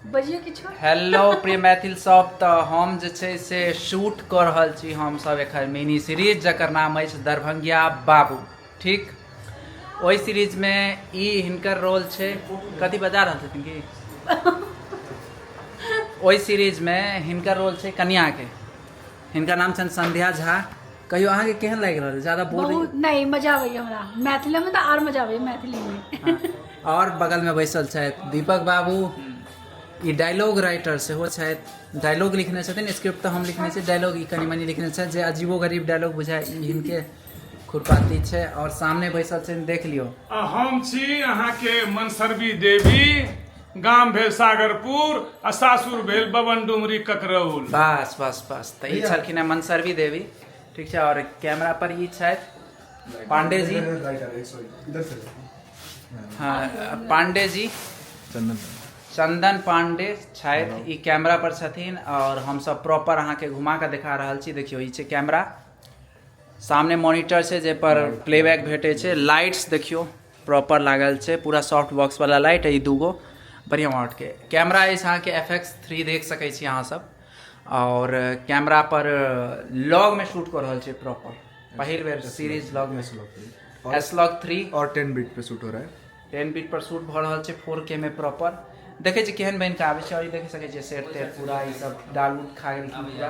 बजियो किछो हेलो प्रिय मैथिल सब तऽ हम जे छै से शूट कऽ रहल छी हमसब एखन मिनी सीरीज जकर नाम अछि दरभंगिया बाबू ठीक ओहि सीरीजमे ई हिनकर रोल छै कथी बजा रहल छथिन कि ओहि सीरीजमे हिनकर रोल छै कन्याके हिनका नाम छनि संध्या झा कहियो अहाँके केहन लागि रहल है ज्यादा बोरिंग बहुत नहीं मजा आबैए हमरा मैथिली में तो आर मजा आबैए मैथिली में और बगल में बैसल छथि दीपक बाबू ई डायलॉग राइटर सेहो छथि डायलॉग लिखने छथिन स्क्रिप्ट तऽ हम लिखने छी डायलॉग ई कनि मनि लिखने छथि जे अजीबो गरीब डायलॉग बुझाय ई हिनके खुरपाती छै और सामने बैसल छथिन देख लियौ आ हम छी अहाँके मनसरबी देवी गाम भेल सागरपुर आ सासुर भेल बबन डुमरी ककरौल बस बस बस तऽ ई छलखिन हेँ मनसरवी देवी ठीक छै आओर कैमरा पर ई छथि पांडे जी हाँ पांडे जी चंदन चंदन पांडे छथि ई कैमरा पर छथिन आओर हमसब प्रॉपर अहाँके घुमा कऽ देखा रहल छी देखियौ ई छै कैमरा सामने मॉनिटर छै जे पर प्लेबैक भेटे छै लाइट्स देखियो प्रॉपर लागल छै पूरा सॉफ्ट बॉक्स वाला लाइट है दूगो बढ़िया वाट के कैमरा इस अहाँ के एफ एक्स थ्री देख सके छी अहाँ सब और कैमरा पर लॉग में शूट कर रहल छै प्रॉपर पहिल बेर सीरीज लॉग में शूट एस लॉग थ्री और टेन बीट पे शूट हो रहा है टेन बीट पर शूट भ रहल छै फोर के में प्रॉपर देखे छी केहन बन के आबे छै और देखे सके छी सेट तेट पूरा ई सब डाल उट खा गेल पूरा